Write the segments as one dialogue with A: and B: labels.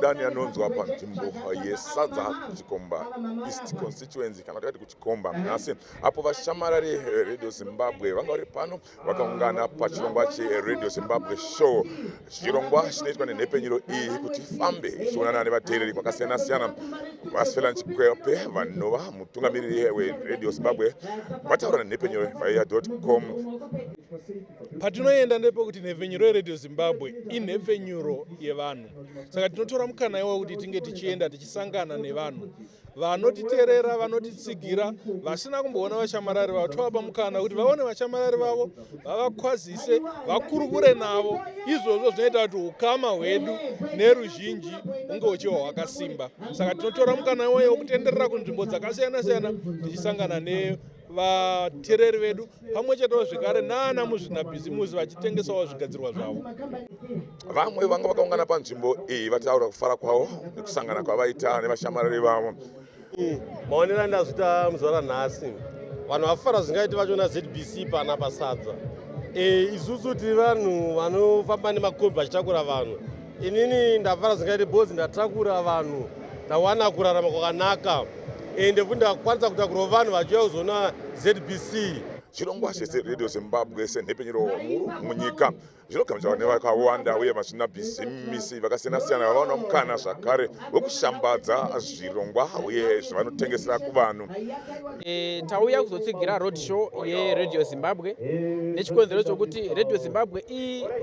A: dani anonzwa panzvimbo yesadza chikomba east constituency kana tikati kuchikomba nhasi apo vashamarari radio zimbabwe vanga vari pano vakaungana pachirongwa cheradio zimbabwe show chirongwa chinoitwa nenhepenyuro iyi kuti ifambe ichionana nevateereri kwakasiyana siyana vasfela chikwepe vanova mutungamiriri weradio zimbabwe vataura nenhepenyuro vaiya com
B: patinoenda ndepekuti nhepfenyuro yeradio zimbabwe inhepfenyuro yevanhu saka tinotora mukana iwo kuti tinge tichienda tichisangana nevanhu vanotiterera vanotitsigira vasina kumboona vashamarari vavo tovapa mukana kuti vaone vashamarari vavo vavakwazise vakurukure navo izvozvo zvinoita kuti ukama hwedu neruzhinji hunge huchiva hwakasimba saka tinotora mukana weye wekutenderera kunzvimbo dzakasiyana siyana tichisangana ne vatereri vedu pamwe chetewo zvekare naana muzvinabhizimusi vachitengesawo zvigadzirwa zvavo vamwe
A: vanga vakaungana panzvimbo iyi vataura kufara kwavo nekusangana kwavaita nevashamarari vavo maonero
C: andazvita muzvara nhasi vanhu vafara zvingaiti vacho nazbc pana pasadza e, isusu tiri vanhu vanofamba nemakombi vachitakura vanhu inini ndafara zvingaite bhozi ndatakura vanhu ndawana kurarama kwakanaka ende futi ndakwanisa kutakurawo vanhu vachiuya kuzoona zbc chirongwa
A: chezeradio zimbabwe senhepfenyuro huru munyika zvinogamuchirwa nevakawanda uye vasina bhizimisi vakasiyana-siyana vavaona mukana zvakare wekushambadza zvirongwa uye zvavanotengesera kuvanhu E,
D: tauya kuzotsigira road show yeradio zimbabwe nechikonzero chokuti radio zimbabwe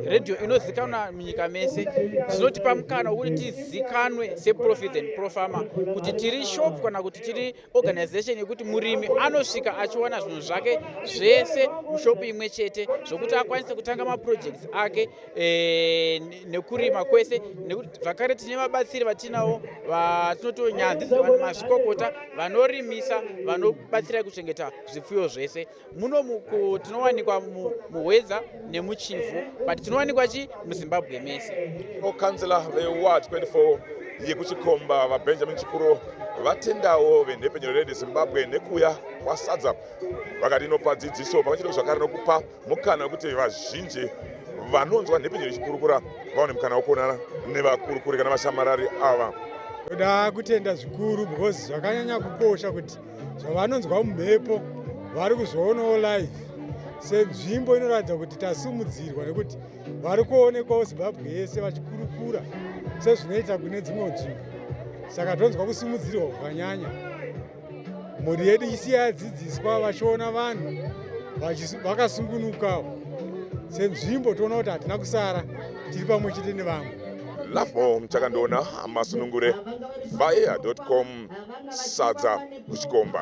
D: iradio inozikanwa munyika mese zvinotipa mukana wokuti tizikanwe seprofit and profama kuti tiri shop kana kuti tiri organization yekuti murimi anosvika achiwana zvinhu zvake zvese mushopu imwe chete zvokuti akwanise kutanga maprojects ake eh, nekurima kwese nekuti zvakare tine vabatsiri vatinawo vatinotiwo nyanzi mazvikokota vanorimisa vanobatsira kuchengeta zvipfuyo zvese muno tinowanikwa muhwedza nemuchivhu but tinowanikwa chi muzimbabwe mese okanzila
A: veward 24 yekuchikomba vabenjamin chikuro vatendawo venhepfenyuro redu zimbabwe nekuuya kwasadza vakati inopa dzidziso pamwe chete zvakare nokupa mukana wekuti vazhinji vanonzwa nhepinyi richikurukura vaone mukana wekuonana nevakurukuri kana vashamarari ava toda
E: kutenda zvikuru because zvakanyanya kukosha kuti zvavanonzwa mumhepo vari kuzvoonawo live senzvimbo inoratidza kuti tasumudzirwa nekuti vari kuonekwawo zimbabwe yese vachikurukura sezvinoita kune dzimwe nzvimbo saka tonzwa kusimudzirwa kwakanyanya mhuri yedu isiya yadzidziswa vachiona vanhu vakasungunukawo senzvimbo toona kuti hatina kusara tiri pamwe chete nevamwe lafo
A: mchakandiona masunungure fire com sadza kuchikomba